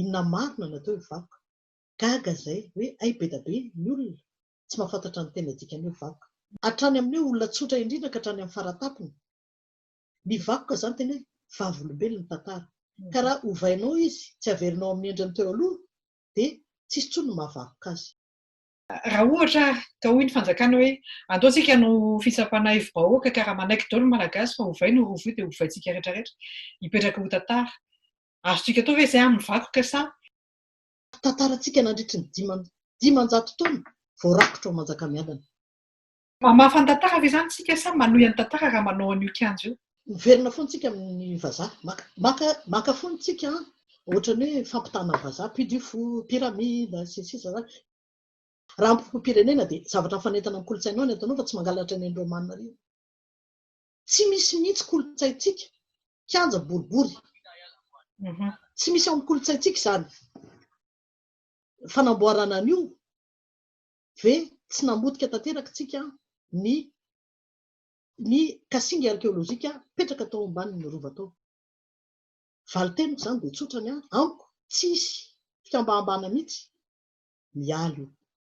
Inona marina no atao hoe vakoka? Gaga izay hoe hay be da be ny olona tsy mahafantatra ny tena dikan'ny hoe vakoka. Hatrany amin'ny hoe olona tsotra indrindra ka hatrany amin'ny fara-tampony. Ny vakoka izany tena hoe vavolombelona ny tantara. Ka raha ovainao izy, tsy averinao amin'ny endriny teo aloha, dia tsisy intsony ny mahavakoka azy. Raha ohatra ka hoy ny fanjakana hoe andao tsika hanao fitsapana hevi-bahoaka ka raha manaiky daholo ny Malagasy fa ovaina io rova io dia ovaintsika retraretra. Hipetraka ho tantara. Azontsika atao ve izay amin'ny vakoka sa. Tantarantsika nandritry ny diman dimanjato taona vao rakotra ao Manjakamiadana? Mamafa ny tantara ve izany isika sa manohy ny tantara raha manao an'io kianja io? Miverina foana isika amin'ny vazaha. Maka, maka, maka foana isika an! Ohatrany hoe fampitana vazaha, puits du fou, pyramide, sy ny sisa izany. Raha amim-pom-pirenena dia zavatra mifanentana amin'ny kolontsainao ny ataonao fa tsy mangalatra ny an'i Romana ireny. Tsy misy mihitsy kolontsaintsika kianja boribory. Tsy misy ao amin'ny kolontsaintsika izany. Fanamboarana an'io ve tsy namotika tanteraka isika ny ny kasinga arkeolojika mipetraka tao ambanin'ny rova tao? Valin-teniko izany dia tsotra ny ahy, amiko tsy hisy fikambahambahana mihitsy mialy io.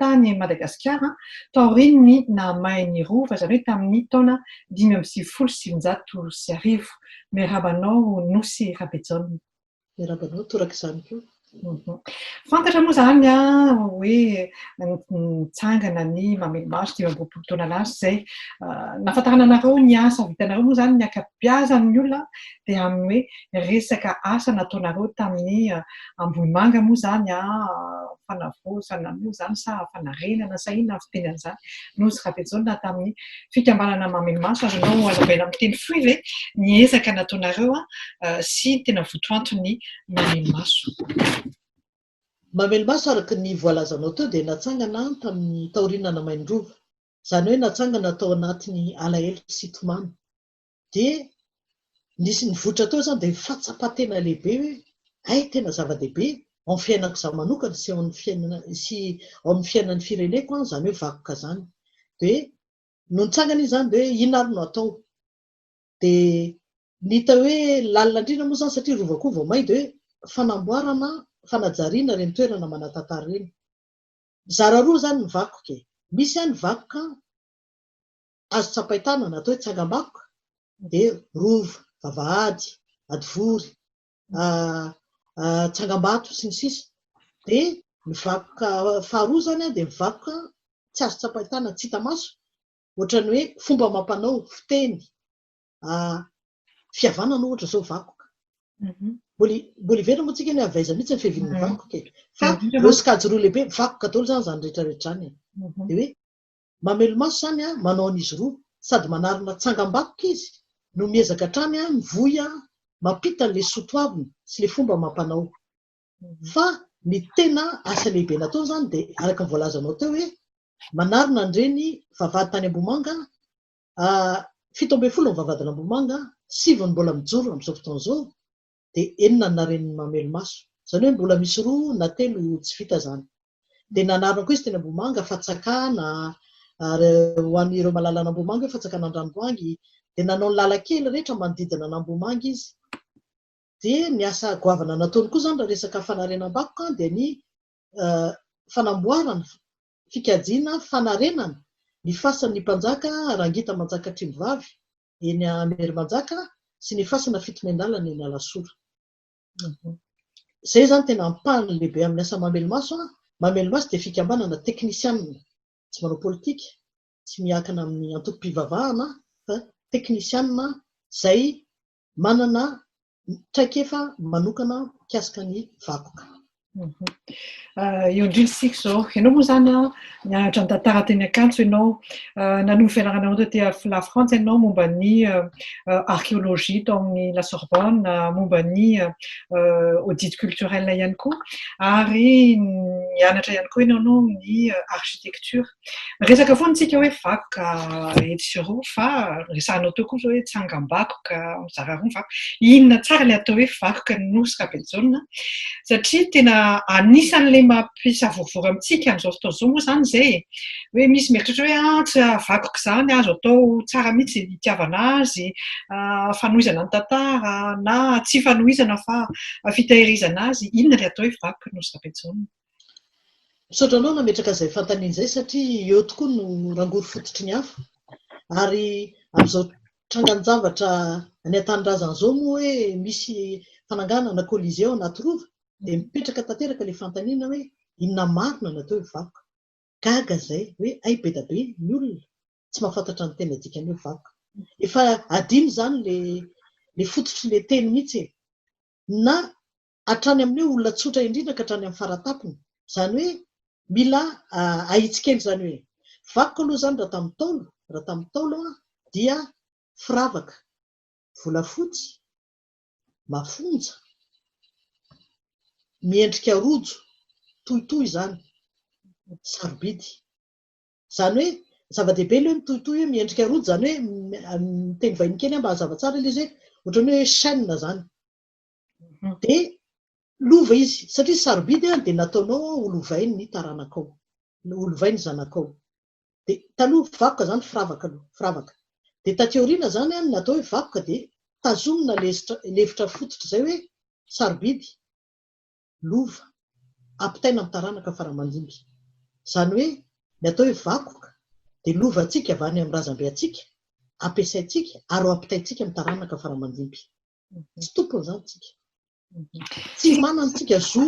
tany Madagasikara taorian'ny nahamain'ny Rova, izany hoe tamin'ny taona dimy amby sivifolo sy sivinjato sy arivo. Miarahaba anao Nosy Rabejaona. Miarahaba anao toraka izany koa. Fantatra moa izany hoe nitsangana ny mamely maso dimy amby roapolo taona lasa izay. Nahafantarana anareo ny asa vitanareo moa izany ny ankabeazan'ny olona dia amin'ny hoe resaka asa nataonareo tamin'ny Ambohimanga moa izany fanavaozana moa izany sa fanarenana sa inona avy teny amin'izany Nosy Rabejaona tamin'ny fikambanana Mamemaso ary ianao Alabaina amin'ny teny fohy ve ny ezaka nataonareo sy tena votoanton'ny Mamemaso? Mamemaso araka ny voalazanao teo dia natsangana tamin'ny taorian'Anamainirova, izany hoe natsangana tao anatin'ny alahelo sy tomany. dia nisy nivoitra teo izany dia fahatsapan-tena lehibe hoe hay tena zava-dehibe ao amin'ny fiainako izaho manokana sy ao amin'ny fiainana sy ao amin'ny fiainan'ny fireneko an, izany hoe vakoka izany dia no nitsangana izy izany dia hoe inona ary no atao dia ny hita hoe lalina indrindra moa izany satria rova koa vao may dia hoe fanamboarana fanajariana ireny toerana manatantara ireny zara roa izany ny vakoka e, misy an ny vakoka Azo tsapain-tanana atao hoe tsangambakoka dia rova, vavahady, hadivory, tsangambato sy ny sisa Dia ny vakoka faharoa izany dia ny vakoka tsy azo tsapain-tanana, tsy hita maso, ohatran'ny hoe fomba amam-panao, fiteny, fihavanana ohatra izao vakoka. Mbola hiverina moa tsika ny avy aiza mihitsy ny fiavian'ny vakoka e. Fa ireo sokajy roa lehibe, vakoka daholo izany izany rehetra rehetra izany e. Dia hoe Mamelomaso izany manao an'izy roa sady manarina tsangambakoka izy no miezaka hatrany mivoy mampita an'ilay soa toavina sy ilay fomba amam-panao. Fa ny tena asa lehibe nataony izany dia araka ny voalazanao teo hoe manarina an'ireny vavahady tany Ambohimanga, fito ambin'ny folo ny vavahadin'Ambohimanga, sivy ny mbola mijoro amin'izao fotoana izao. dia enina ny naren'ny mamelomaso. Izany hoe mbola misy roa na telo tsy vita izany. Dia nanarina koa izy teny Ambohimanga, Fatsakana, ary ho an'ireo mahalala an'Ambohimanga hoe Fatsakan'Andranobangy, dia nanao ny lalan-kely rehetra manodidina an'Ambohimanga izy. Dia ny asa goavana nataony koa izany raha resaka fanarenam-bakoka dia ny fanamboarana, fikajiana, fanarenana ny fasan'ny Mpanjaka Rangita Manjakatrimo vavy eny Amerimanjaka sy ny fasana fito miandalana eny Alasora. Izay izany tena ampahany lehibe amin'ny asa Mamelomaso. Mamelomaso dia fikambanana teknisianina, tsy manao politika, tsy miakina amin'ny antokom-pivavahana fa teknisianina izay manana traikefa manokana mikasika ny vakoka. Eo indrindra isika izao, ianao moa izany an, nianatra ny tantara teny Ankatso ianao, nanova fianarana anao taty avy La Frantsa ianao momba ny archéologie tao amin'ny La Sorbonne, momba ny audit culturel ihany koa, ary nianatra ihany koa ianao ny architecture. Resaka foana isika hoe vakoka etsy sy eroa fa resahanao teo kosa hoe tsangambakoka mizara roa ny vakoka. Inona tsara ilay atao hoe vakoka ny Nosy Rabejaona satria tena anisan'ilay mampisavorovoro amintsika amin'izao fotoana izao moa izany izay e. Hoe misy mieritreritra hoe ah, tsy vakoka izany, azo atao tsara mihitsy ny hitiavana azy, fanohizana ny tantara na tsy fanohizana fa fitahirizana azy. Inona ilay atao hoe vakoka ny Nosy Rabejaona? Misaotra anao nametraka izay fantaniana izay satria eo tokoa no rangory fototry ny afo. Ary amin'izao trangan-javatra any an-tanindrazana izao moa hoe misy fananganana colisée ao anaty rova dia mipetraka tanteraka ilay fantaniana hoe inona marina no atao hoe vakoka. Gaga izay hoe hay be dia be ny olona tsy mahafantatra ny tena dikan'ny hoe vakoka. Efa adino izany ilay fototry ilay teny mihitsy e! Na hatrany amin'ny hoe olona tsotra indrindra ka hatrany amin'ny faratampony. Izany hoe mila ahitsy kely izany hoe vakiko aloha izany raha tamin'ny Ntaolo, raha tamin'ny Ntaolo aho dia firavaka volafotsy mafonja miendrika rojo tohitohy izany sarobidy. Izany hoe zava-dehibe ilay hoe mitohitohy hoe miendrika rojo, izany hoe miteny vahiny kely aho mba hazava tsara ilay izy hoe ohatran'ny hoe chaîne izany. dia lova izy satria sarobidy an, dia nataonao an ho lovain ny taranakao, ho lovain ny zanakao, dia taloha vakoka izany firavaka aloha, firavaka, dia taty aoriana izany an ny natao hoe vakoka dia tazomina lezitra, lefitra fototra izay hoe sarobidy, lova, ampitaina amin'ny taranaka fara aman-dimby, izany hoe ny atao hoe vakoka dia lovantsika avy any amin'ny razambe antsika, ampiasaintsika ary ho ampitaintsika amin'ny taranaka fara aman-dimby. Tsy tompony izany tsika. Tsy manana tsika zo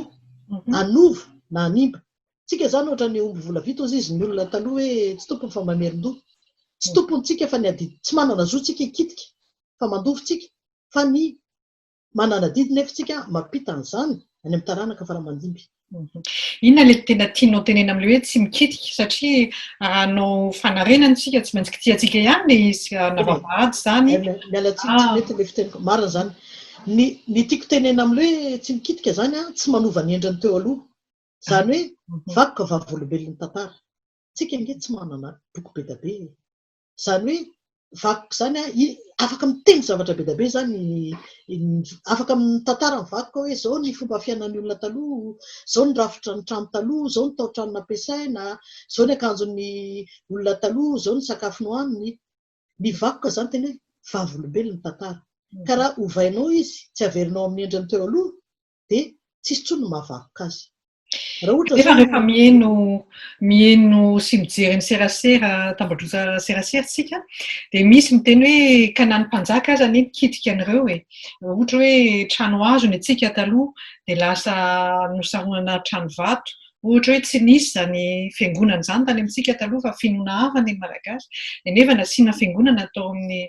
hanova na hanimba. Tsika izany ohatra ny omby vola vita hozy izy ny olona taloha hoe tsy tompony fa mamerin-doha. Tsy tompony tsika fa ny adidy. Tsy manana zo tsika hikitika fa mandova tsika fa ny manana adidy nefa tsika mampita an'izany any amin'ny taranaka fara-mandimby. Inona ilay tena tianao tenena amin'ilay hoe tsy mikitika satria raha hanao fanarenana isika tsy maintsy kitihantsika ihany ilay izy na vavahady izany. Miala tsiny tsy mety ilay fiteniko. Marina izany. Ny ny tiako tenena amin'ilay hoe tsy mikitika izany an, tsy manova ny endriny teo aloha. Izany hoe vakoka vavolombelon'ny tantara. Tsika ange tsy manana boky be dia be e! Izany hoe vakoka izany an, afaka miteny zavatra be dia be izany, afaka mitantara ny vakoka hoe izao ny fomba fiainan'ny olona taloha, izao ny rafitra ny trano taloha, izao ny tao-trano nampiasaina, izao ny akanjon'ny olona taloha, izao ny sakafo nohaniny. Ny vakoka izany tena hoe vavolombelon'ny tantara. Ka raha ovainao izy, tsy averinao amin'ny endriny teo aloha, dia tsy hisy intsony ny mahavakoka azy. Kanefa rehefa miheno, miheno sy mijery ny serasera, tambajotra serasera isika, dia misy miteny hoe ka na ny mpanjaka aza anie mikitika an'ireo e. Ohatra hoe trano hazo ny antsika taloha, dia lasa nosaronana trano vato, Ohatra hoe tsy nisy izany fiangonana izany tany amintsika taloha fa finoana hafa ny Malagasy, dia nefa nasiana fiangonana tao amin'ny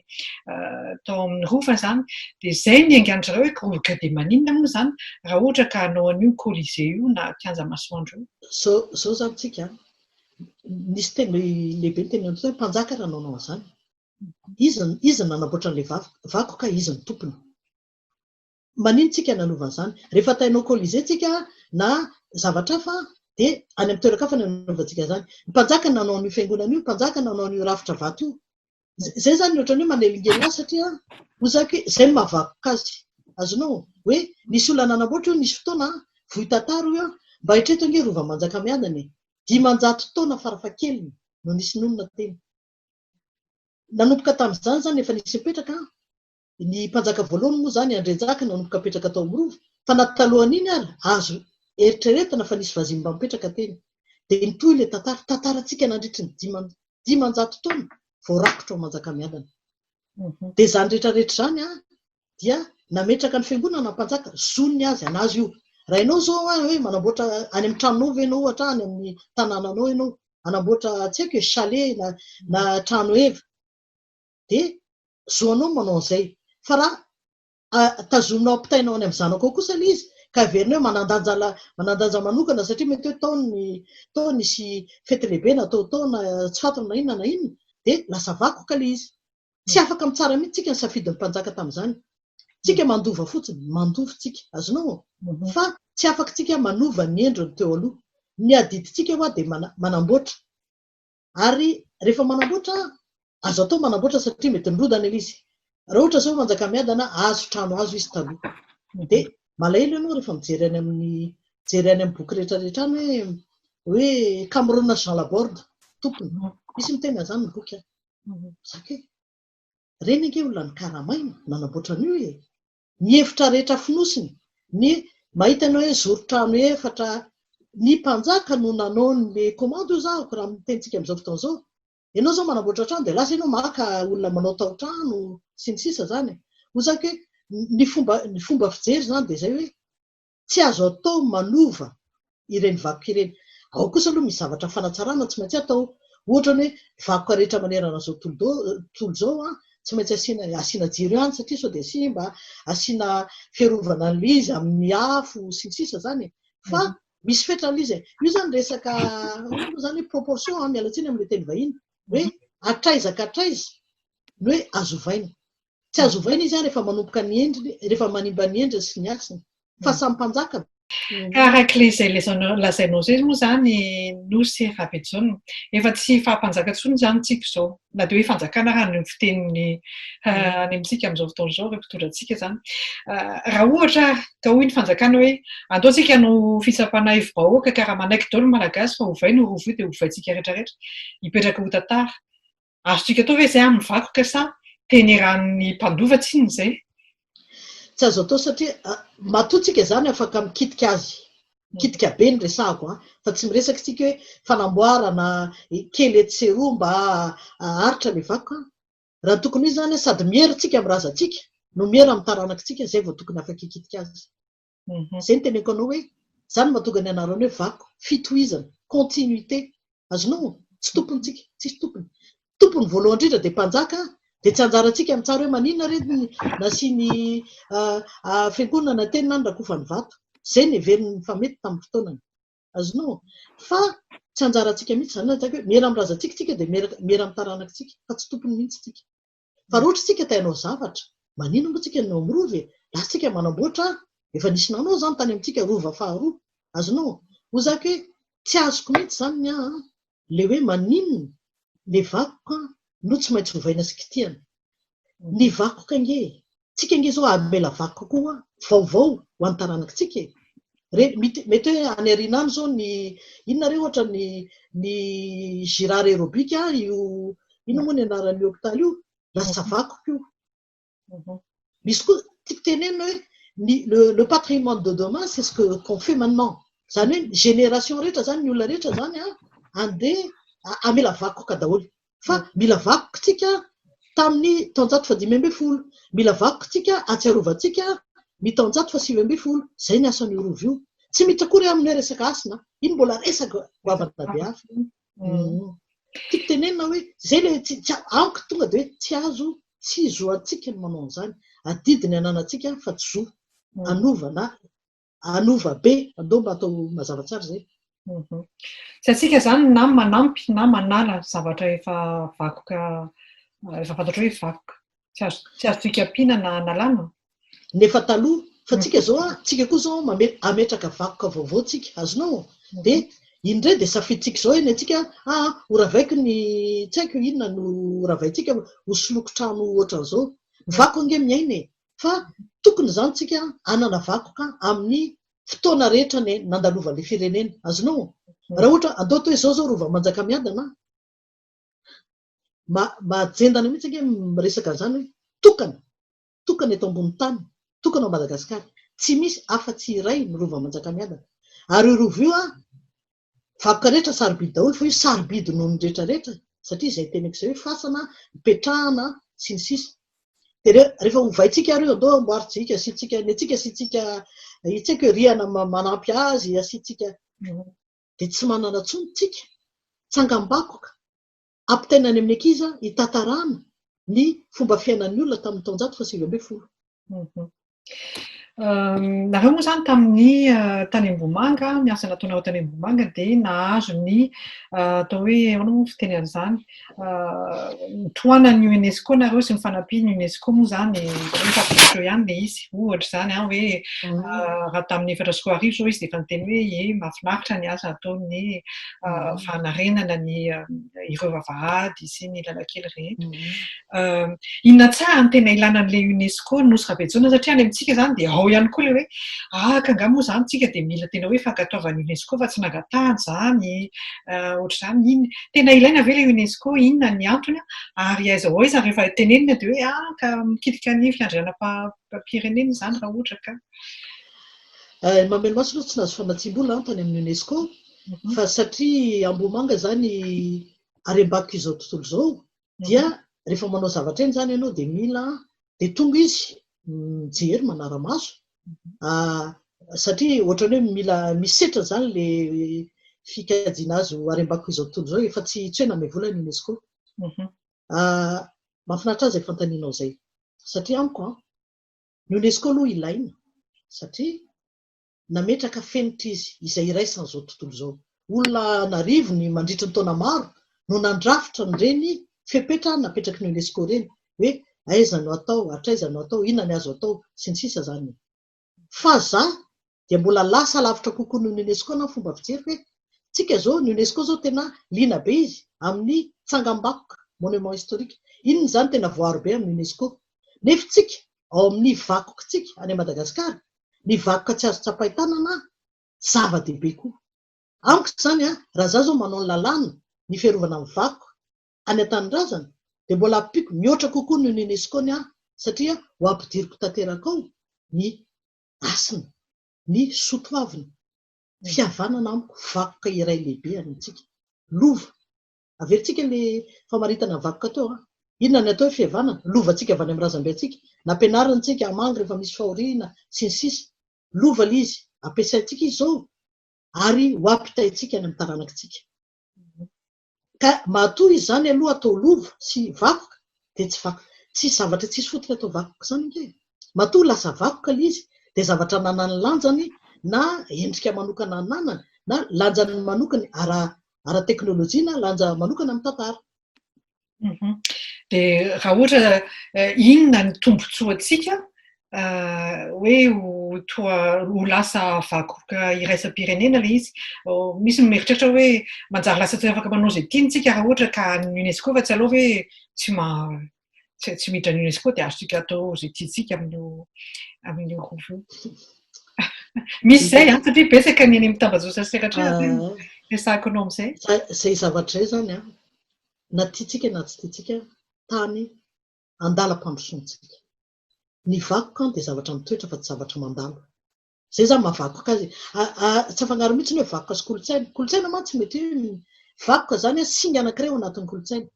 tao amin'ny Rova izany, dia izay ny aingan-dry zareo hoe Groboka dia maninona moa izany raha ohatra ka hanao an'io Colisée io na kianja masoandro io? Izao izao izany amintsika an! nisy teny lehibe ny teny hoe mpanjaka raha nanao an'izany, iza iza no nanamboatra an'ilay vakoka, iza no tompony? Manino tsika nanova an'izany? Rehefa tainao colisee tsika na zavatra hafa dia any amin'ny toeran-kafa no anovantsika izany. Ny mpanjaka no nanao an'io fiangonana io, ny mpanjaka no nanao an'io rafitra vato io. Izay izany no ohatran'ny hoe manelingelina azy satria hozako hoe izay no mahavakoka azy. Azonao? Hoe nisy olona nanamboatra io nisy fotoana, vohy tantara hoy aho, mba eritrereto ange rova manjakamiadana e! dimanjato taona farafahakeliny no nisy nonina teny. Nanomboka tamin'izany izany efa nisy nipetraka an! ny mpanjaka voalohany moa izany Andrianjaka nanomboka apetraka tao amin'ny rova, fa na talohan'iny ary azo eritreretina fa nisy vazimba mba mipetraka teny. Dia mitohy ilay tantara, tantarantsika nandritry ny diman, dimanjato taona vao rakotra ao Manjakamiadana. Dia izany rehetra rehetra izany an, dia nametraka ny fiangonana ny mpanjaka, zon'ny azy hanazo io. Raha ianao izao an, hoe manamboatra any amin'ny tranonao ve ianao ohatra, any amin'ny tanànanao ianao, hanamboatra tsy haiko e, chalet na, na trano heva, dia zo anao ny manao an'izay. Fa raha tazominao ampitainao any amin'ny zanako ao kosa ilay izy ka heverina hoe manandanja manandanja manokana satria mety hoe tao ny tao nisy fety lehibe natao tao na tsy fantatra na inona na inona dia lasa vakoka ilay izy. Tsy afaka mitsara mihitsy tsika ny safidin'ny mpanjaka tamin'izany. Tsika mandova fotsiny, mandova tsika. Azonao? Mhm. Fa tsy afaka tsika manova ny endriny teo aloha. Ny adidintsika hoa dia manamboatra. Ary rehefa manamboatra, azo atao manamboatra satria mety nirodana ilay izy. Raha ohatra izao Manjakamiadana, hazo, trano hazo izy taloha. Mhm. Dia malahelo ianao rehefa mijery any amin'ny jery any amin'ny boky rehetrarehetra any hoe hoe Cameron Jean Laborde, tompony. Mhm. Misy miteny an'izany ny boky an. Mhm. Zaka hoe, reny ange olona nikaramaina, nanamboatra an'io e. Ny hevitra rehetra fonosiny, ny mahita ny hoe zoro trano efatra, ny mpanjaka no nanao ny commande hoy za raha ny tenintsika amin'izao fotoana izao. Ianao izao manamboatra trano dia lasa ianao maka olona manao taotrano sy ny sisa izany. Hoy za hoe ny fomba ny fomba fijery izany dia izay hoe. Tsy azo atao manova ireny vakoka ireny. Ao kosa aloha misy zavatra fanatsarana tsy maintsy atao. Ohatra ny hoe vakoka rehetra manerana izao tontolo izao an, tsy maintsy asiana asiana jiro ihany satria sao dia simba, asiana fiarovana an'ilay izy amin'ny afo sy ny sisa izany e. Fa misy fetrany izy e. Io izany resaka ahoana moa izany hoe proportion an, miala tsiny amin'ilay teny vahiny, hoe hatraiza ka hatraiza no hoe azo ovaina. Tsy azo ovaina izy rehefa manomboka ny endriny, rehefa manimba ny endriny sy ny hasiny. Fa samy mpanjaka ve? Ka araka ilay izay lazainao izay moa izany Nosy Rabejaona, efa tsy faha-mpanjaka intsony izany tsika izao. Na dia hoe fanjakana ary any amin'ny fiteniny any amintsika amin'izao fotoana izao ireo mpitondra antsika izany. Raha ohatra ary ka hoy ny fanjakana hoe andao isika hanao fitsapana aivo-bahoaka ka raha manaiky daholo ny Malagasy fa ovay ny Rova io dia ovaintsika rehetra rehetra, hipetraka ho tantara. Azontsika atao ve izay amin'ny vakoka sa tenerahan'ny mpandova tsinona izay? Tsy azo atao satria matoa tsika izany afaka mikitika azy, mikitika be ny resahako an, fa tsy miresaka isika hoe fanamboarana kely etsy sy eroa mba haharitra ilay vakoka an. Raha tokony ho izy izany an, sady miera isika amin'ny razantsika no miera amin'ny taranakitsika, izay vao tokony afaka hikitika azy. Izay no teneniko anao hoe izany no mahatonga ny anarany hoe vaky, fitohizana, continuité. Azonao? Tsy tompontsika, tsisy tompony. Tompony voalohany indrindra dia mpanjaka dia tsy anjarantsika ny mitsara hoe maninona re ny nasiany fiangonana na teny na ny rakofany vato. Izay no heveriny fa mety tamin'ny fotoanany. Azonao? Fa tsy anjarantsika mihitsy izany lazaiko hoe miera amin'ny razantsika isika dia miera amin'ny taranakitsika fa tsy tompony mihitsy isika. Fa raha ohatra isika te hanao zavatra, maninona moa tsika no mirova e? Lasa tsika manamboatra ary efa nisy nanao izany tany amintsika rova faharoa. Azonao? Hoy za ke, tsy azoko mihitsy izany ny ahy an! Le hoe maninona le vakoka no tsy maintsy ovaina sy kitihana? Ny vakoka ange e! Tsika ange zao hamela vaky kokoa vaovao ho an'ny taranaky tsika e! Re, mety, mety hoe any aoriana any zao ny, inona re ohatra ny, ny girard aerobic a, io, inona moa ny anaran'ny hopitaly io, lasa vaky ko. Misy koa, tiako tenenina hoe, ny, le, le patrimoine de demain c'est ce que, qu'on fait maintenant. Zany hoe ny génération rehetra zany, ny olona rehetra zany a, andeha hamela vakoka daholo. fa mila vakotsika tamin'ny taonjato fahadimy ambin'ny folo, mila vakotsika ahatsiarovantsika ny taonjato fahasivy ambin'ny folo, izay ny asan'io rova io. Tsy miditra akory amin'ny hoe resaka hasina an, iny mbola resaka goavana be hafa iny. Tiako tenenina hoe izay le tsy tsy amiko tonga dia hoe tsy azo tsy zo antsika ny manao an'izany, adidy ny ananantsika fa tsy zo hanova na hanova be andao mba atao mazava tsara zay mhm. tsy atsika zany na manampy na manala zavatra efa vakoka efa fantatro hoe vakoka tsy azo tsy azo toikapiana na analana nefa taloha fa tsika mhm. zao a tsika koa zao mame ametraka vakoka vaovao tsika azonao mhm. de indray de safiditsika zao eny atsika aa ah, ho ravaiko ny tsy haiko inona no ravaintsika ho soloko trano ohatran'zao vako ange miaina e fa tokony izany tsika hanana vakoka amin'ny fotoana rehetra ny nandalovan'ilay firenena. Azonao? Raha ohatra, andao atao hoe izao izao rova manjakamiadana, ma, mahajendana mihitsy ange miresaka an'izany hoe tokana, tokana eto ambony tany, tokana ao Madagasikara. Tsy misy afa-tsy iray ny rova manjakamiadana. Ary io rova io an, Vakoka rehetra sarobidy daholo fa io sarobidy noho ny rehetra rehetra satria izay teneko izay hoe fasana, ipetrahana sy ny sisa Dia rehefa hovaintsika ary io andao amboarintsika asiantsika ny antsika asiantsika io tsy haiko hoe rihana manampy azy asiantsika dia tsy manana intsony tsika tsangambakoka Ampitaina any amin'ny ankizy hitantarana ny fomba fiainan'ny olona tamin'ny taonjato fahasivy ambin'ny folo. Nareo moa izany tamin'ny tany Ambohimanga, ny asa nataonareo tany Ambohimanga dia nahazo ny atao hoe ahoana moa ny fiteny an'izany, tohanan'ny UNESCO nareo sy ny fanampian'ny UNESCO moa izany, izaho efa avy teo ihany ilay izy, ohatra izany an, hoe raha tamin'ny efatra sy roa arivo izao izy dia efa niteny hoe ie mahafinaritra ny asa ataon'ny fanarenana ny ireo vavahady sy ny lalan-kely rehetra. Inona tsara ny tena ilana an'ilay UNESCO nosy Rabejoana satria any amintsika izany dia ao ihany koa ilay hoe ah ka nga moa izany tsika dia mila tena hoe fankatoavan'ny UNESCO fa tsy nangatahany izany ohatr'izany iny tena ilaina ve ilay UNESCO inona ny antony ary aiza ho aiza rehefa tenenina dia hoe ah ka mikitika ny fiandrianam-pirenena izany raha ohatra ka. Mamelona masina tsy nahazo famatsiam-bola aho tany amin'ny UNESCO fa satria Ambohimanga zany harembakiko izao tontolo izao dia rehefa manao zavatra eny zany ianao dia mila dia tonga izy mijery manara-maso ah, satria ohatran'ny hoe mila misetra zany le fikajiana azy ho harembakiko izao tontolo izao efa tsy tsy hoe name vola ny UNESCO mhm. ah, mahafinaritra azy fantanianao izay satria amiko an ah, ny UNESCO aloha ilaina satria nametraka fenitra izy izay iraisan'izao tontolo izao. Olona an'arivony mandritry ny taona maro no nandrafitra an'ireny fepetra napetraky ny UNESCO ireny hoe aiza no atao, hatraiza no atao, inona ny azo atao, sy ny sisa izany e. Fa za dia mbola lasa lavitra kokoa noho ny UNESCO na ny fomba fijery hoe tsika izao ny UNESCO izao tena liana be izy amin'ny tsangambakoka, monument historique, inona izany tena voaro be amin'ny UNESCO. Nefy tsika ao amin'ny vakokantsika any Madagasikara, ny vakoka tsy azo tsapain-tanana, zava-dehibe koa amiko izany. Raha izaho izao manao ny lalàna ny fiarovana ny vakoka any an-tanindrazana dia mbola ampiako mihoatra kokoa noho ny UNESCO ny ahy satria ho ampidiriko tanteraka ao ny hasina, ny soatoavina, fihavanana amiko, vakoka iray lehibe any amintsika, lova, Averintsika le famaritana vakoka teo an! Inona ny atao hoe fihavanana? Lovantsika avy any amin'ny razambe antsika, nampianarintsika hamangy rehefa misy fahoriana, sy ny sisa Lova le izy, ampiasaintsika izy izao ary ho ampitaintsika any amin'ny taranakitsika. Ka matoa izy izany aloha atao lova sy vakoka dia tsy vakoka, tsy zavatra tsisy fotony atao vakoka izany ange e! Matoa lasa vakoka le izy dia zavatra ananany lanjany na endrika manokana ananany na lanjany manokany ara ara-teknolojia na lanja manokana amin'ny tantara. Mhm. Dia raha ohatra eh, inona ny tombontsoantsika eh, hoe ho toa ho lasa vakoka iraisam-pirenena ilay izy. Oh, misy ny mieritreritra hoe manjary lasa tsy afaka manao izay tiantsika raha ohatra ka ny UNESCO fa tsy aleo hoe tsy ma Tsy tsy miditra ny UNESCO dia azontsika atao izay tiantsika amin'io amin'io groupe io. Misy izay an, satria betsaka ny eny amin'ny tambajotra sy sehatra ah. resahako anao amin'izay. Izay zavatra izay izany an, na tiantsika na tsy tiantsika, tany andalam-pandrosoantsika. Ny vakoka dia zavatra mitoetra fa tsy zavatra mandalo. Zay zany maha vakoka azy e. Tsy afangaro mihitsy ny hoe vakoka sy kolontsaina. Kolontsaina mantsy mety hoe vakoka zany hoe singa anankiray ao anatin'ny kolontsaina.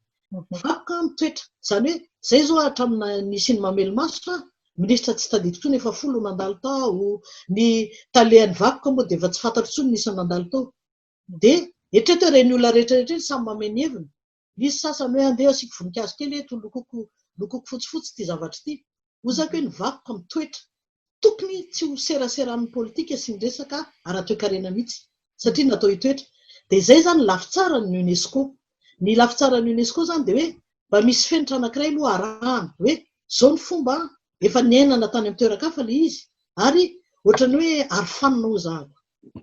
Vakoka ny toetra. Zany hoe zay zao hatramin'ny nisian'ny mamely maso aho, minisitra tsy tadidiko intsony efa folo no nandalo tao, ny talehan'ny vakoka moa dia efa tsy fantatro intsony ny isan'ny nandalo tao. Dia eritrereto hoe ireny olona rehetra rehetra ireny samy mamehy ny heviny. Misy sasany hoe andeha asiako voninkazo kely eto, lokoko lokoko fotsifotsy ity zavatra ity. Hozako hoe ny vakoka mitoetra. Tokony tsy ho serasera amin'ny politika sy ny resaka ara-toekarena mihitsy satria natao hitoetra. Dia izay izany ny lafy tsara ny UNESCO. Ny lafy tsara ny UNESCO izany dia hoe mba misy fenitra anankiray aloha arahana hoe izao ny fomba an, efa niainana tany amin'ny toeran-kafa ilay izy ary ohatran'ny hoe arofanina hoy zahako.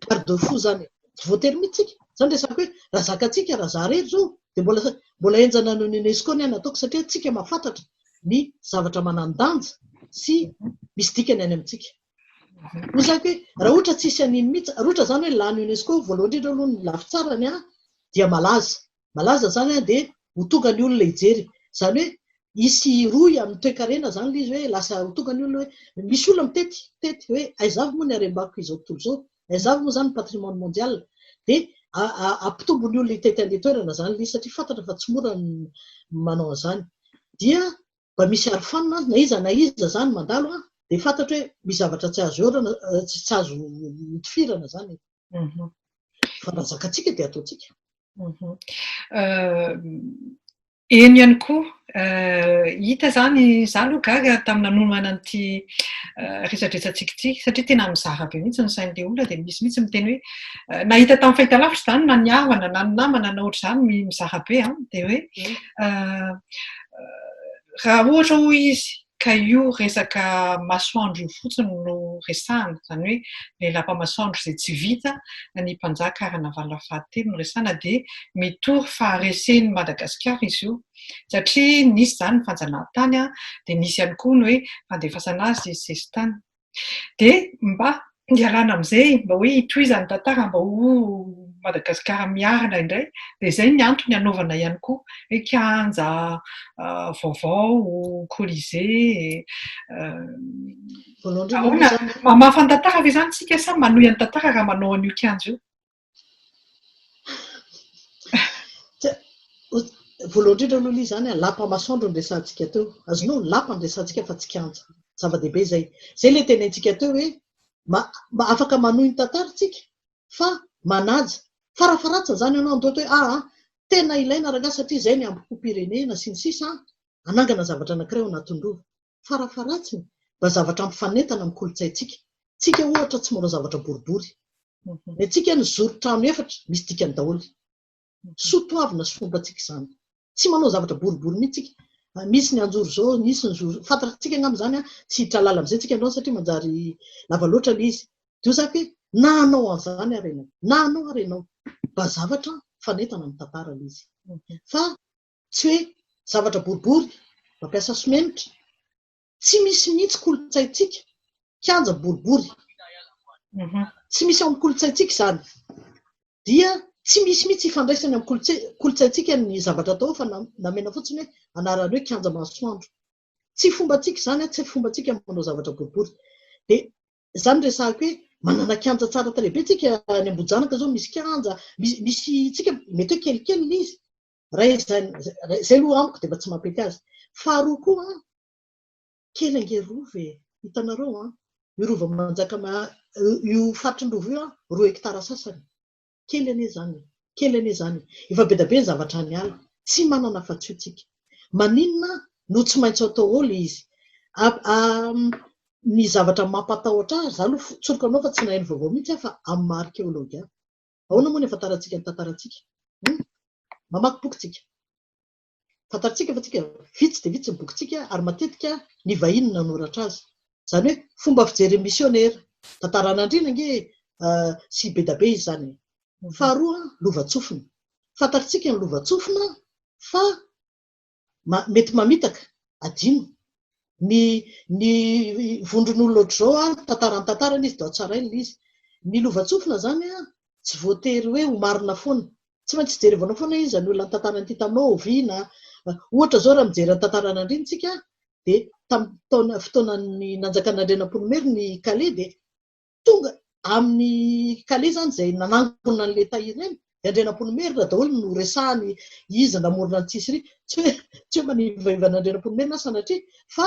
garde fou zany e, tsy voatery mihitsy tsika, zany resako hoe raha zakatsika raha za rery zao de mbola mbola henjana noho ny UNESCO ny aina ataoko satria tsika mahafantatra ny zavatra manandanja sy misy dikany any amintsika hoy zako hoe raha ohatra tsisy an'iny mihitsy raha ohatra zany hoe lany UNESCO voalohany indrindra aloha ny lafitsarany a dia malaza malaza zany an dia ho tonga ny olona hijery zany hoe hisy rohy amin'ny toekarena zany ilay izy hoe lasa ho tonga ny olona hoe misy olona mitety mitety hoe aiza avy moa ny harem-bakiko izao tontolo izao aiza avy moa zany ny patrimoine mondial dia ampitombo ny olona hitety an'ilay toerana zany ilay izy satria fantatra fa tsy mora ny manao an'izany dia mba misy arofanina azy na iza na iza zany mandalo an, dia fantatro hoe misy zavatra tsy azo orana, tsy azo notifirana zany e. Fa raha zakatsika dia ataontsika. Eny ihany koa, hita zany, za aloha gaga tamin'ny nanomana an'ity resadresantsika ity, satria tena mizara be mihitsy ny sain'ilay olona dia misy mihitsy miteny hoe, nahita tamin'ny fahitalavitra zany na ny havana na ny namana na ohatr'izany mizara be an, dia hoe raha ohatra hoy izy ka io resaka masoandro io fotsiny no resahana, izany hoe ilay lapa masoandro izay tsy vita ny mpanjaka Ranavalona fahatelo no resahana dia mitory faharesen'i Madagasikara izy io satria nisy izany ny fanjanahantany dia nisy ihany koa ny hoe fandefasana azy sesitany. Dia mba ialana amin'izay, mba hoe hitohizan'ny tantara mba ho Madagasikara miarina indray, dia izay ny antony anaovana ihany koa hoe kianja vaovao, colisée. Voalohany indrindra aloha izany. Mamafa ny tantara ve izany isika sa manohy ny tantara raha manao an'io kianja io? Voalohany indrindra aloha ilay izany, lapa masoandro no resahantsika teo. Azonao? Lapa no resahantsika fa tsy kianja. Zava-dehibe izay. Izay ilay tenenintsika teo hoe afaka manohy ny tantara isika fa manaja. Farafaharatsiny izany ianao handoa hoe aa, tena ilaina rangahy satria izay ny hambom-pom-pirenena sy ny sisa, hanangana zavatra anankiray ao anatin'ny Rova. Farafaharatsiny, mba zavatra ampifanentana amin'ny kolontsaintsika. Tsika, ohatra, tsy mora zavatra boribory. Ny antsika, ny zoron-trano efatra, misy dikany daholo. Soa toavina sy fomba antsika izany. Tsy manao zavatra boribory mihitsy tsika. Misy ny hanjoro izao, nisy ny zoro. Fantatr'antsika angamba izany an! Tsy hitrahalala amin'izay tsika androany satria manjary lava loatra ilay izy. Dia hoy za hoe, na hanao an'izany ary ianao, na hanao ary ianao, mba zavatra mifanentana amin'ny tantara ilay izy. Fa Tsy hoe zavatra boribory, mampiasa simenitra. Tsy misy mihitsy kolontsaintsika kianja boribory. Tsy misy ao amin'ny kolontsaintsika izany. Dia tsy misy mihitsy ifandraisany amin'ny kolontsaintsika ny zavatra atao fa namena fotsiny hoe anarany hoe kianja masoandro. Tsy fombantsika izany, tsy fombantsika ny manao zavatra boribory. Dia izany resahako hoe manana kianja tsara tarehy be tsika any Ambohijanaka izao misy kianja, misy tsika mety hoe kelikely izy Iray izany, izay aloha amiko dia mba tsy mampety azy. Faharoa koa, kely ange rova e, hitanareo an, io rova manjaka io faritry ny rova io an, roa hectares sasany, kely anie izany, kely anie izany, efa be dia be ny zavatra any ala, tsy manana afa-tsy io tsika. Maninona no tsy maintsy atao ao ilay izy? Ny zavatra mampatahotra ahy, za aloha tsoriko anao fa tsy naheno vaovao mihitsy aho fa amin'ny marika eo logia. Ahoana moa ny afantarantsika ny tantarantsika? Hum? Mamaky boky tsika. Tantarantsika fa tsika vitsy dia vitsy ny bokintsika ary matetika ny vahiny nanoratra azy. Izany hoe fomba fijery misionera. Tantaran'andriana ange uh, sy bedabe izany. Faharoa, lovantsofina. Fantarantsika ny lovantsofina fa ma, mety mamitaka, adino. Ny, ny vondron'olona ohatr'izao an, tantara ny tantarany izy dia ao tsaraina ilay izy. Ny lovantsofina izany an, tsy voatery hoe ho marina foana. Tsy maintsy jerevanao foana iza no ilany tantara ity taminao, oviana. Ohatra izao raha mijery ny tantaran'Andriana isika dia tamin'ny taona, fotoanan'ny nanjakan'Andrianampoinimerina i Kale dia tonga amin'ny kale izany izay nanangona an'ilay tahiry ireny dia Andrianampoinimerina daholo no resahany iza namorona an'i Tsisiria. Tsy hoe tsy hoe manivaiva an'Andrianampoinimerina aho sanatria fa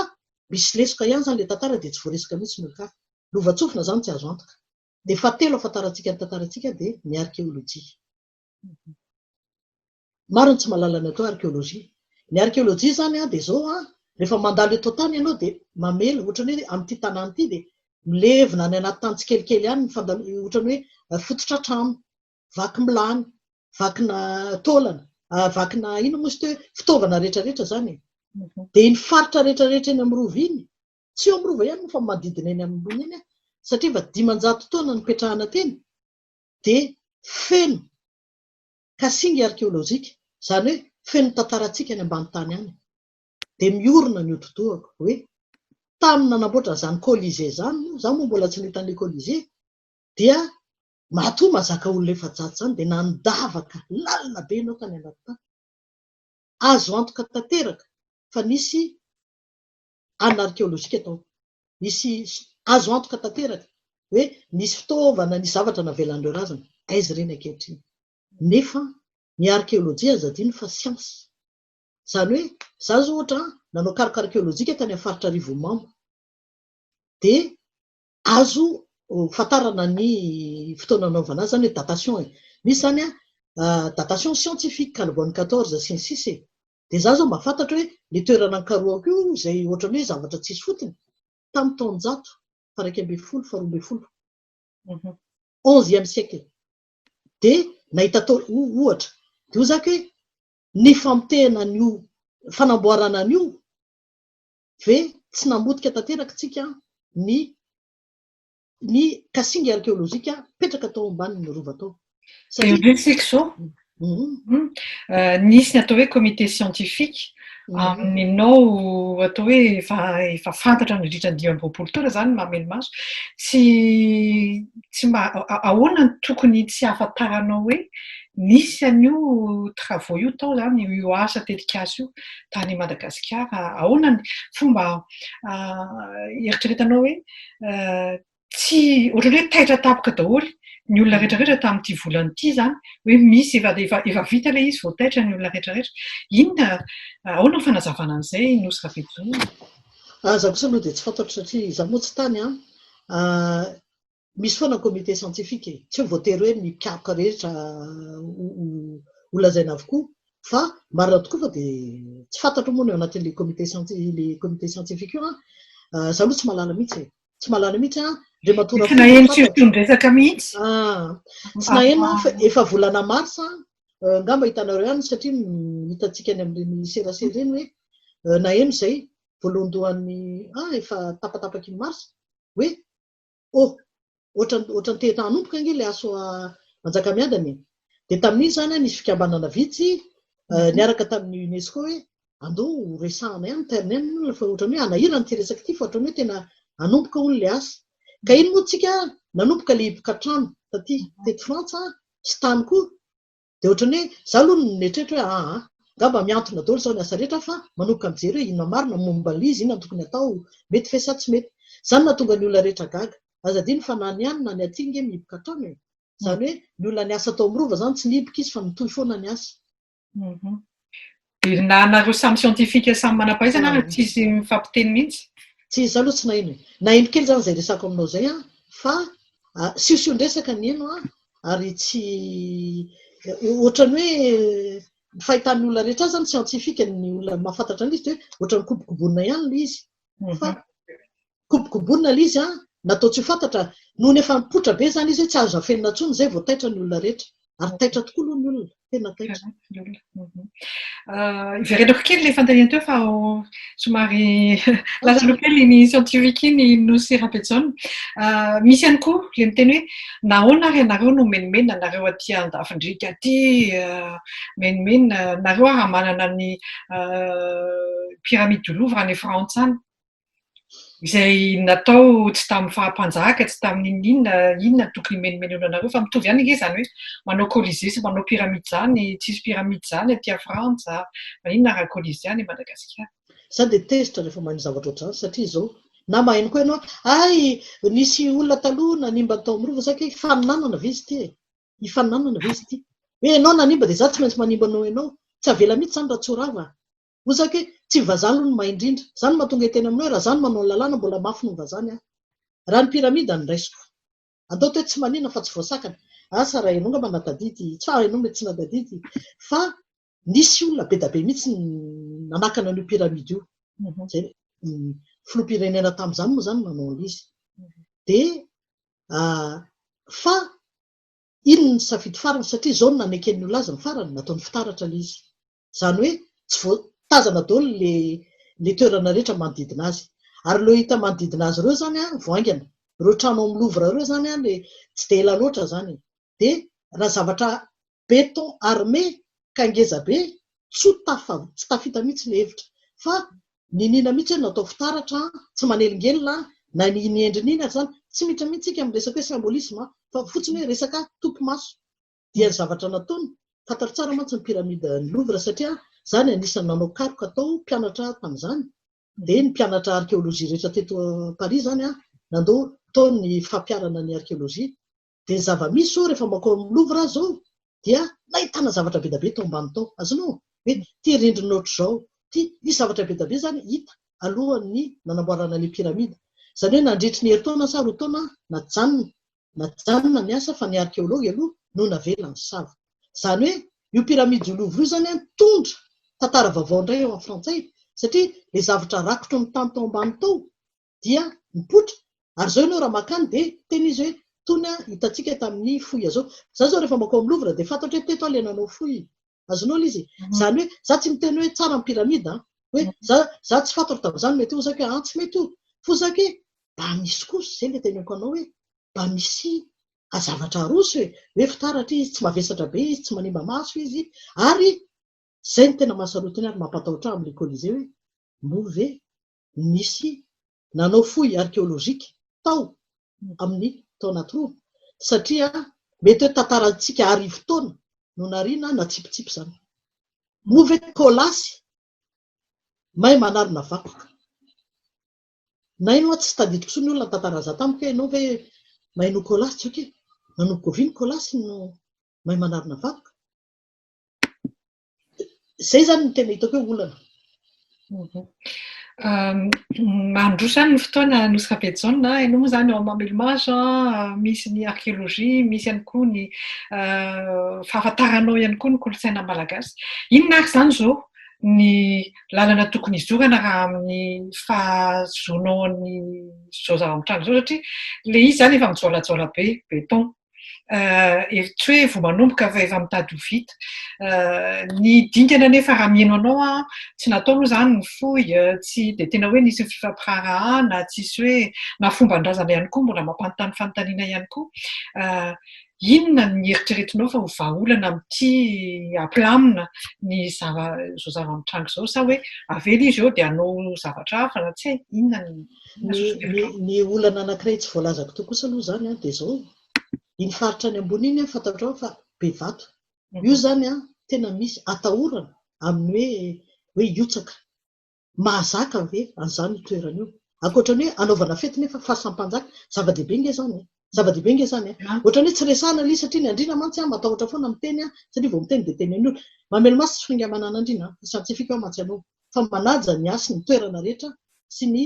misy lesoka ihany izany ilay tantara dia tsy voaresaka mihitsy ny olon-kafa. Lovantsofina izany tsy azo antoka. Ny fahatelo ahafantarantsika ny tantarantsika dia ny arkeolojia. Maro ny tsy mahalala ny atao arkeolojia. Ny arkeolojia izany dia izao, rehefa mandalo eto an-tany ianao dia mamela, ohatran'ny hoe amin'ity tanàna ity dia milevina any anaty tany tsikelikely any ny fandalovanao, ohatran'ny hoe fototra trano, vaky milany, vakina taolana, vakina inona moa izy ity hoe fitaovana rehetrarehetra izany e. Dia iny faritra rehetrarehetra eny amin'ny Rova iny, tsy eo amin'ny Rova ihany moa fa manodidina eny amin'ny Rova iny, satria efa dimanjato taona nipetrahana teny, dia feno ka singa arkeolojika, izany hoe feno tantarantsika any ambany tany any, dia miorina ny hodi-dohako hoe tamin'ny nanamboatra an'izany Colisée izany, moa izaho moa mbola tsy nahita an'ilay Colisée, dia matoa mahazaka olona efajato izany dia nandavaka lalina be ianao tany anaty tany. Azo antoka tanteraka fa nisy anna arkeolojika tao. Misy azo antoka tanteraka hoe nisy fitaovana, nisy zavatra navelan'ireo razana. Aiza ireny ankehitriny? Nefa ny arkeolojia aza adino fa siansa. Izany hoe, izaho izao ohatra nanao karoka arkeolojika tany amin'ny faritra Arivonimamo, dia azo fantarana ny fotoana nanaovana azy, izany hoe datation e. Misy izany datation scientifique, Calbon 14 sy ny sisa e. Dia izaho izao mba fantatro hoe ny toerana nikarohako io izay ohatran'ny hoe zavatra tsisy fotony, tamin'ny taonjato faha iraika ambin'ny folo, faha roa ambin'ny folo, onzième siècle, dia nahita tao, ohatra, dia hoy izaho hoe ny famotehana an'io, fanamboarana an'io ve tsy namotika tanteraka tsika ny Ny kasinga arkeolojika mipetraka tao ambanin'ny rova tao. Dia resiko izao, nisy ny atao hoe comité scientifique, aminao atao hoe efa efa fantatra nandritra ny dimy amby roapolo taona izany ny mahamelo-maso, tsy tsy mba ahoana no tokony tsy hahafantaranao hoe nisy an'io travaux io tao izany, io asa tetikasa io tany Madagasikara? Ahoana ny fomba eritreretanao hoe. tsy ohatrany hoe taitra tampoka daholo ny olona rehetra rehetra tamin'ity volana ity zany hoe misy efa efa efa vita ilay izy vao taitra ny olona rehetra rehetra inona ahoana ny fanazavana an'izay nosy Rabedonia ah, za kosa aloha dia tsy fantatro satria za moa tsy tany an ah, misy foana ny comité scientifique e. tsy hoe voatery hoe ny mpikaroka rehetra ho lazaina avokoa Fa marina tokoa fa dia tsy fantatro moa ny ao anatin'ilay comité ilay comité scientifique io an. Ah. Izaho aloha tsy mahalala mihitsy e. Tsy mahalala mihitsy an. Dia matoa Tsy naheno surtout ny resaka mihitsy. Ah. Tsy naheno an, efa volana mars an. Euh, nga mba hitanareo ihany satria hitantsika any amin'ireny serasera ireny hoe euh, naheno izay voalohandohan'ny ah efa tapatapaky ny mars hoe Oh! Ohatran'ny ohatran'ny te hanomboka ange ilay aso Manjakamiadana e! Dia tamin'iny izany an, nisy fikambanana vitsy eh, niaraka tamin'ny UNESCO hoe andao ho resahana ihany ny terrain moa fa ohatran'ny hoe hanahirana ity resaka ity fa ohatran'ny hoe tena hanomboka hono ilay asa. Ka iny moa tsika nanomboka ilay hiboka trano taty, teto Frantsa sy tany koa Dia ohatran'ny hoe za aloha no mieritreritra hoe aa, angamba mihantona daholo zao ny asa rehetra fa manomboka mijery hoe inona marina momba an'ilay izy, inona no tokony atao, mety ve sa tsy mety. Zany no hahatonga ny olona rehetra gaga. Aza adino fa na ny any na ny aty nge mihiboka hatrany e. Zany hoe ny olona niasa tao amin'ny Rova zany tsy nihiboka izy fa mitohy foana ny asa. Velona anareo samy scientifique samy manampahaizana ary tsisy mifampiteny mihitsy. Tsy izaho aloha tsy naheno e. Naheno kely zany zay resako aminao zay an, fa siosion-dresaka ny heno an, ary tsy ohatran'ny hoe ny fahitan'ny olona rehetra azy zany scientifique ny olona mahafantatra an'ilay izy dia hoe ohatran'ny kobokobonina ihany ilay izy fa Kobokobonina ilay izy an! Natao tsy ho fantatra, nohon'ny efa mipoitra be izany izy hoe tsy azo afenina intsony izay vao taitra ny olona rehetra. Ary taitra tokoa aloha ny olona, tena taitra. Iverenako kely ilay fanontaniana teo fa somary lasa aloha kely ny scientifique iny Nosy Rabejaona. Misy ihany koa ilay miteny hoe nahoana ary ianareo no menomenona nareo aty andafin-driaka aty, menomenona nareo ary manana ny pyramide du Louvre any Frantsa any. izay natao tsy tamin'ny faha-mpanjaka, tsy tamin'ny inona inona, inona no tokony himenomenona anareo, fa mitovy ihany ange izany hoe manao colisée sy manao pyramide izany, tsisy pyramide izany aty à frantsa, maninona raha colisée any Madagasikara. Za dia tezitra rehefa maheno zavatra ohatr'izany satria izao na maheno koa ianao hay nisy olona taloha nanimba ny tao amin'ny rova, za kay hifaninanana ve izy ity e? hifaninanana ve izy ity? hoe ianao nanimba dia za tsy maintsy manimba noho ianao, tsy avela mihitsy izany raha tsy ho rava. Oza ke tsy ny vazaha aloha no mahay indrindra. Za no mahatonga tena aminao e, raha za no manao ny lalàna mbola mafy noho ny vazaha ny ahy. Raha ny pyramide no raisiko. Andao teto tsy manina fa tsy voasakana. Asa raha enao ngamba natadidy, tsa enao mety tsy natadidy fa nisy olona bedabe mihitsy ny nanakana an'io pyramide io. Zay ny filoham-pirenena tamin'izany moa zany nanao an'izy. Dia fa iny ny safidy farany satria zao no naneken'ny olona azy ny farany, nataony fitaratra ilay izy. Izany hoe tsy voatazana daholo ilay ilay toerana rehetra manodidina azy. Ary ireo hita manodidina azy ireo izany an, vao haingana. Ireo trano ao amin'ny Louvre ireo izany an, ilay tsy dia ela loatra izany e. Dia raha zavatra béton armé ka ngeza be, tsy ho tafa, tsy tafita mihitsy ilay hevitra. Fa niniana mihitsy hoe natao fitaratra an, tsy manelingelina an, na ny ny endriny iny ary izany. Tsy miditra mihitsy isika amin'ny resaka hoe symbolisme an, fa fotsiny hoe resaka topimaso. dia ny zavatra nataony, fantaro tsara mantsy ny pyramide ny Louvre satria za ny anisany nanao karoka tao, mpianatra aho tamin'izany, dia ny mpianatra archéologie rehetra teto Paris izany an, nandoa tao ny fampiarana ny archéologie, dia ny zava-misy izao rehefa mankao amin'ny Louvre aho izao dia nahitana zavatra be dia be tao ambany tao, azonao hoe ity rindrina ohatr'izao ity, nisy zavatra be dia be izany hita alohan'ny nanamboarana ilay pyramide, izany hoe nandritry ny herintaona sa roa taona najanona Najanona ny asa fa ny arkeology aloha no navela nisava. Izany hoe io Pyramides du Louvre io izany an, nitondra tantara vaovao indray eo amin'ny frantsay satria ilay zavatra rakotry ny tany tao ambany tao dia nipoitra ary izao ianao raha makany dia tena izy hoe itony an hitantsika tamin'ny foy azao. Izaho izao rehefa makao amin'ny Louvre dia fantatro hoe teto aho ilay nanao foy. Azonao ilay izy e. Izany hoe, za tsy miteny hoe tsara ny pyramide an, hoe za za tsy fantako tamin'izany mety hozaka hoe an tsy mety ho fozaka e, mba misy kosa izay ilay teneniko anao hoe mba misy zavatra aroso e, hoe fitaratra izy, tsy mavesatra be izy, tsy manimba maso izy, ary izay no tena mahasarotiny ary mampatahotra ahy amin'ilay Colisée hoe moa ve nisy nanao fouille archéologique tao amin'ny taona troa satria mety hoe tantarantsika arivo taona no nariana natsipitsipy izany. Moa ve Kolasy may manarina vakoka? Naino aho tsy tadidiko intsony olona nitantara an'izany tamiko hoe ianao ve may noho Kolasy tsy ok e? Nanomboka oviana Kolasy no may manarina vakoka? Izay izany no tena hitako hoe olana. Mhm. Mandroso any ny fotoana nosy Rabejaona, ianao moa izany ao Mamelomage, misy ny archéologie, misy ihany koa ny fahafantaranao ihany koa ny kolontsaina malagasy. Inona ary izany izao ny lalana tokony hizorana raha amin'ny fahazoanao ny zao zava-mitranga zao satria le izy izany efa mijoalajoala be, beton. hevitro hoe vao manomboka fa efa mitady ho vita. Ny dingana anefa raha mihaino anao aho, tsy natao moa izany ny fohy, tsy dia tena hoe nisy ny fifampiraharahana, tsisy hoe, na fomban-drazana ihany koa mbola mampanontany fanontaniana ihany koa. Inona ny eritreretinao fa ho vahaolana amin'ity hampilamina ny zava, izao zava-mitranga izao sa hoe avela izy eo dia hanao zavatra hafa na tsy hay, inona ny. Ny olana anankiray tsy voalazako teo kosa aloha izany dia izao, iny faritra any ambony iny fantatrao fa be vato. Io izany tena misy atahorana amin'ny hoe hihotsaka. Mahazaka ve an'izany io toerana io? Ankoatra ny hoe hanaovana fety nefa fasan'mpanjaka, zava-dehibe ange izany e! Zava-dehibe nge zany eh. Ohatrany hoe tsy resahana le satria ny andriana mantsy matahotra foana miteny satria vao miteny dia teny an'olona. Mamely maso tsy fingamanana andriana fa scientifique aho mantsy anao fa manaja ny hasy ny toerana rehetra sy ny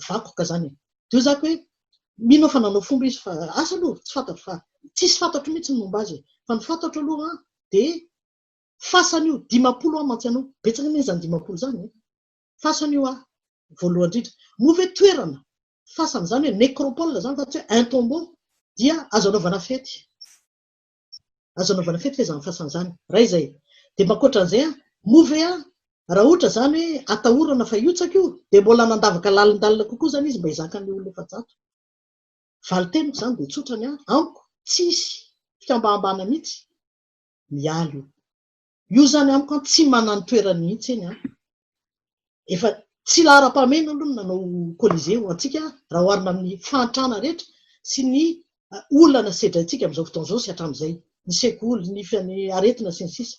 vakoka zany eh. Dia zako hoe mino aho fa nanao fomba izy fa asa aloha tsy fantatro fa tsisy fantatro mihitsy ny momba azy fa ny fantatro aloha dia fasana io dimampolo aho mantsy anao betsaka anie zany dimampolo zany eh. Fasana io ah voalohany indrindra. Moa ve toerana fasana izany hoe necropole izany fa tsy hoe un tombeau dia azo anaovana fety. Azo anaovana fety ve izany fasana izany? Iray izay. Dia ankoatran'izay an, moa ve an, raha ohatra izany hoe atahorana fa hihotsaka io dia mbola nandavaka lalindalina kokoa izany izy mba hizakan'ny olona efajato? Valin-teniko izany dia tsotra ny ahy, amiko tsy hisy fikambahambahana mihitsy mialy io. Io zany amiko an tsy manany toerany mihitsy eny an. Efa tsy laharam-pahamehana aloha ny nanao colisée ho antsika raha oharina amin'ny fahantrana rehetra sy ny olana sedraintsika amin'izao fotoana izao sy hatramin'izay, ny sekoly, ny aretina sy ny sisa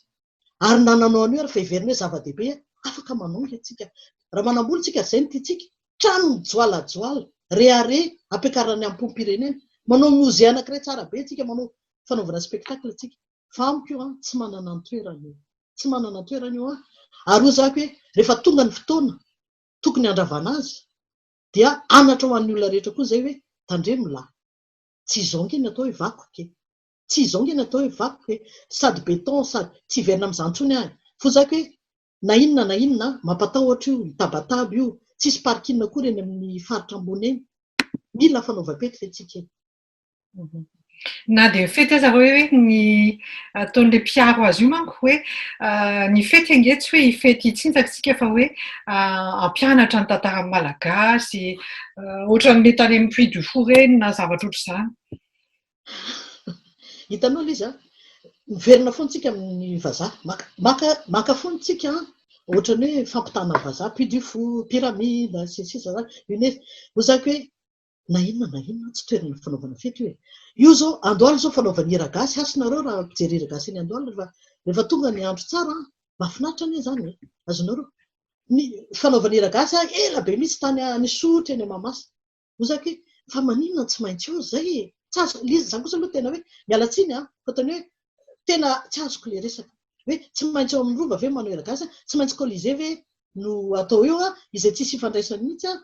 Ary na nanao an'io ary fa heverina hoe zava-dehibe afaka manongy antsika raha manambola tsika ary izay no tiantsika, trano mijoalajoala, reare ampiakarina ny hampom-pirenena, manao musée anankiray tsara be antsika, manao fanaovana spectacle antsika. fa amiko io an, tsy manana an-toerana io, tsy manana an-toerana io an, ary hoy zah hoe rehefa tonga ny fotoana tokony handravana azy dia anatra ho an'ny olona rehetra koa izay hoe tandremo lah, tsy izao ange ny atao hoe vakoka e, tsy izao ange ny atao hoe vakoka e, sady béton sady, tsy hiverina amin'izany intsony aho e, hoy zah hoe na inona na inona an, mampatahotra io, io tabataba io, tsisy parking akory eny amin'ny faritra ambony eny, mila fanaovam-pety ve tsika e. Na dia fety aza hoe hoe ny ataon'ilay mpiaro azy io manko hoe ny fety ange tsy hoe hifety hitsinjaka isika fa hoe hampianatra ny tantaran'ny Malagasy, ohatran'ilay tany amin'ny Puy du Fou ireny na zavatra ohatr'izany. Hitanao Liza, miverina foana isika amin'ny vazaha, maka maka maka foana isika ohatran'ny hoe fampitana vazaha, Puy du Fou, pyramide, sy ny sisa izany, UNESCO. Hoy zany hoe Na inona na inona tsy toerana fanaovana fety io e. Io zao andoaly zao fanaovana hira gasy hasy nareo raha mpijery hira gasy any andoaly refa refa tonga ny andro tsara an! Mafinaritra anie zany e! Azonareo ny fanaovana hira gasy an ela be mitsy tany an Isotry eny Mahamasina oza ke fa maninona tsy maintsy eo zay e! Tsy azoko le izy za kosa aloha tena hoe miala tsiny an fa tena hoe tena tsy azoko le resaka hoe tsy maintsy eo amin'ny rova ve manao hira gasy an! Tsy maintsy colisee ve no atao eo an! Izay tsisy ifandraisany mitsy an!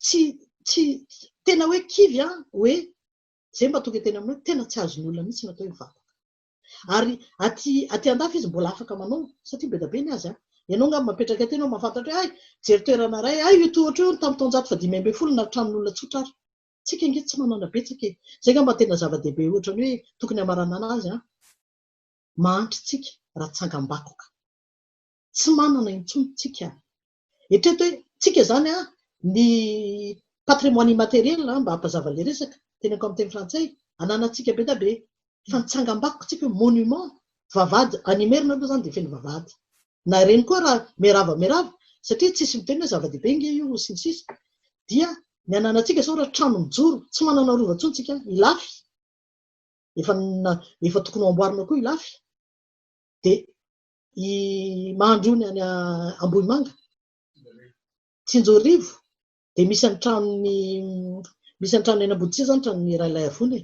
tsy tsy tena hoe kivy an, hoe zay mba tonga teny aminy hoe tena tsy azony olona mihitsy ny atao hoe vavaka. Ary aty aty andafy izy mbola afaka manao satria be da be ny azy an. Ianao angamba mapetraka aty ianao mahafantatra hoe hay jery toerana iray, hay io tohatra io tamin'ny taonjato fa dimy ambin'ny folo na tranon'olona tsotra ary. Tsika ange tsy manana betsaka e. Zay angamba tena zava-dehibe ohatrany hoe tokony hamaranana azy an. Mahantra tsika raha tsangambakoka. Tsy manana intsony tsika. Eritrereto hoe tsika izany an, ny patrimoine immatériel an, mba hampazava ilay resaka, teneniko amin'ny teny frantsay, ananantsika be dia be fa ny tsangambakoka tsika hoe monument, vavahady, any Imerina aloha izany dia feno vavahady. Na ireny koa raha miarahaba miarahaba, satria tsisy miteny hoe zava-dehibe ange io sy ny sisa, dia ny ananantsika sao raha trano mijoro, tsy manana rova intsony tsika, Ilafy, efa efa tokony ho amboarina koa Ilafy, dia I Mahandrony any Ambohimanga, Tsinjorivo, dia misy ny tranon'ny misy ny tranon'ny Ainambodisia izany tranon'ny Ralay Avona e.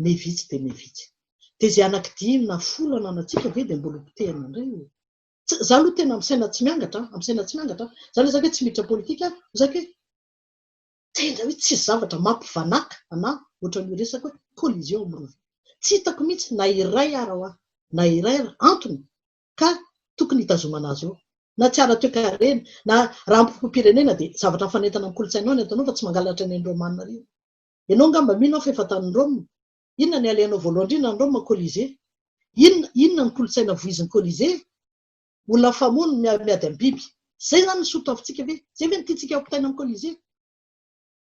Mey vitsy dia mey vitsy. Dia izay anaky dimy na folo ananantsika ve dia mbola hopotehina indray e. Za aloha tena amin'ny saina tsy miangatra, amin'ny saina tsy miangatra. Za ilay zaka hoe tsy miditra politika, zaka hoe. Tena hoe tsisy zavatra mampivanaka anah ohatran'io resaka hoe collision amin'ny rova. Tsy hitako mihitsy na iray ara hoa, na iray ara, antony ka tokony hitazomana azy eo. Na tsy ara-toekarena, na raha amim-poko-pirenena dia zavatra mifanentana amin'ny kolontsaina ao ny ataonao fa tsy mangalatra ny an'i Roma any marina. Ianao angamba mino aho fa efa tany Roma. Inona ny alehanao voalohany indrindra any Roma, Colisée? Inona, inona ny kolontsaina voizin'i Colisée? Olona mifamono no miady amin'ny biby. Zay zany ny sotoavintsika ve? Zay ve no tiantsika ampitaina amin'ny colisée?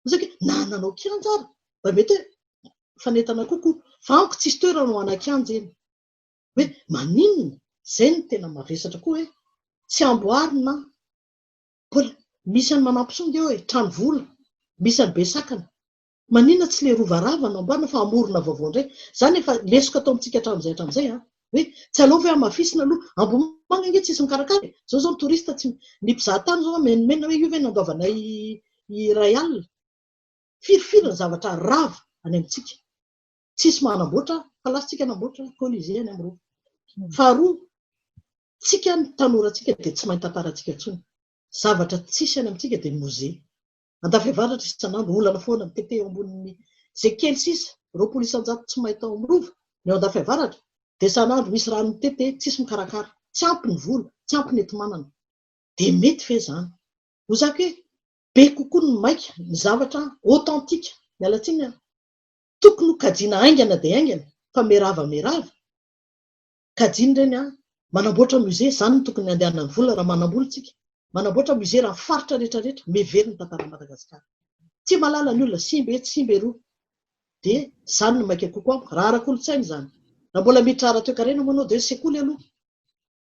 Osa ke na nanao kianja ary mba mety hoe mifanentana kokoa fa amiko tsisy toerana ho ana kianja eny. Hoe maninona? Zay no tena mavesatra koa hoe tsy amboarina an! Mbola misy an'i Manampisonga eo e, trano vola, misy an'i Besakana. Manina tsy le rova rava no amboarina fa amorona vaovao ndray. Zany efa lesoka atao amintsika atramzay atramzay a. Hoe tsy aleo ve amafisina aloha. Ambohimanga ange tsisy mikarakara e. Zao zao ny touriste tsy ny mpizaha tany zao menomenona hoe io ve no andoavanay iray alina. Firy firy ny zavatra rava any amintsika. Tsisy manamboatra fa lasa tsika hanamboatra colisée any am rova. Faharoa tsika ny tanorantsika de tsy mahay tantaratsika tsony. Zavatra tsisy any amintsika de musée. Andafiavaratra isan'andro, olana foana ny TT eo ambonin'ny izay kely sisa, roapolo isan-jato tsy may tao amin'ny Rova, ny ao Andafiavaratra, dia isan'andro misy ranon'ny TT, tsisy mikarakara, tsy ampy ny vola, tsy ampy ny enti-manana. Dia mety ve izany? Hoy za hoe, be kokoa ny maika, ny zavatra authentique, miala tsiny an! Tokony ho kajiana haingana dia haingana, fa merava merava. Kajiany ireny an! Manamboatra musée, izany no tokony handehanan'ny vola raha manambola tsika. Manamboatra musée raha faritra rehetra rehetra, mihevery ny tantaran'i Madagasikara. Tsy mahalala ny olona, simba etsy, simba eroa. Dia izany no maika kokoa amiko, raha ara-kolontsaina izany. Raha mbola miditra ara-toekarena moa ianao dia sekoly aloha.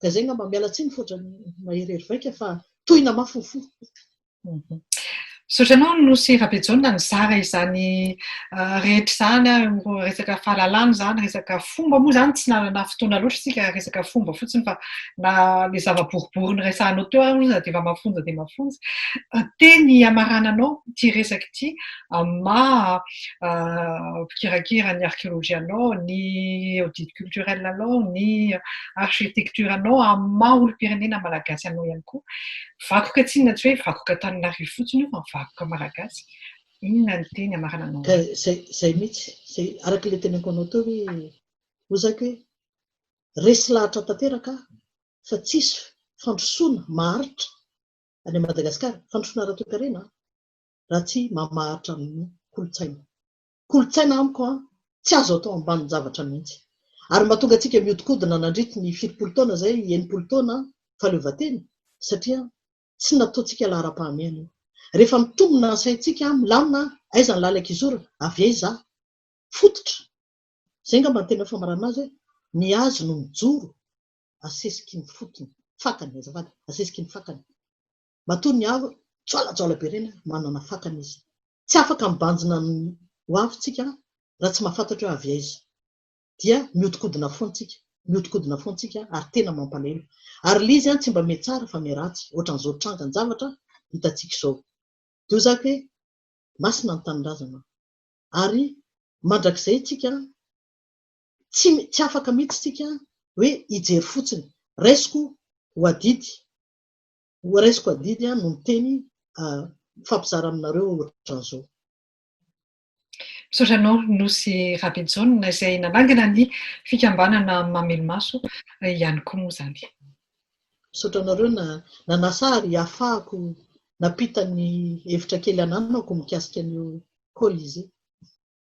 Ka izay ngamba, miala tsiny fotra, maherihery vaika fa tohina mafy ny fo. Misaotra anao Nosy Rabejaona nizara izany rehetra izany, resaka fahalalana izany, resaka fomba moa izany tsy nanana fotoana loatra isika resaka fomba fotsiny fa na ilay zava-boribory niresahanao teo ary dia efa mafonja dia mafonja. Teny hamarananao ity resaka ity amin'ny maha mpikirakira ny archéologie anao, ny audit culturel anao, ny architecture anao amin'ny maha olom-pirenena malagasy anao ihany koa. Vakoka tsinona tsy hoe vakoka Antananarivo fotsiny io fa ny vakoka malagasy. Inona ny teny amarana anao hoe. Zay zay mitsy, zay araka le teneniko anao teo hoe hoy za ke resy lahatra tanteraka aho fa tsisy fandrosoana maharitra any Madagascar, fandrosoana ara-toekarena an, raha tsy mamaharitra ny kolontsaina. kolontsaina amiko an, tsy azo atao ambanin-javatra mihitsy. Ary mahatonga antsika mihodinkodina nandritra ny fitopolo taona izay, enimpolo taona an, fahaleovantena, satria tsy nataontsika laharam-pahamehana io. Rehefa mitombina ny saintsika, milamina an, aiza ny lalan-kizorana, avy aiza aho? Fototra. Izay angamba no tena famaranana azy hoe, ny hazo no mijoro asesiky ny fotony, fakany, azafady, asesiky ny fakany. Matoa ny avo jaolajaola be ireny ary manana fakana izy. Tsy afaka mibanjina ny ho avy tsika raha tsy mahafantatra hoe avy aiza. Dia mihodinkodina foana tsika, mihodinkodina foana tsika ary tena mampalahelo. Ary lzy an tsy mba mihetsara fa miheratsy, ohatran'izao trangan javatra hitantsika izao. Dia hoy zaka hoe masina ny tanindrazana. Ary mandrakizay tsika tsy tsy afaka mihitsy tsika hoe hijery fotsiny. Raisiko ho adidy. Horaisiko adidy aho no miteny mifampizara aminareo ohatran'izao. Misaotra anao Nosy Rabejaona izay nanangana ny fikambanana Mamelomaso ihany koa moa izany. Misaotra anareo nanasa ary hahafahako nampita ny hevitra kely ananako mikasika an'io Colisée.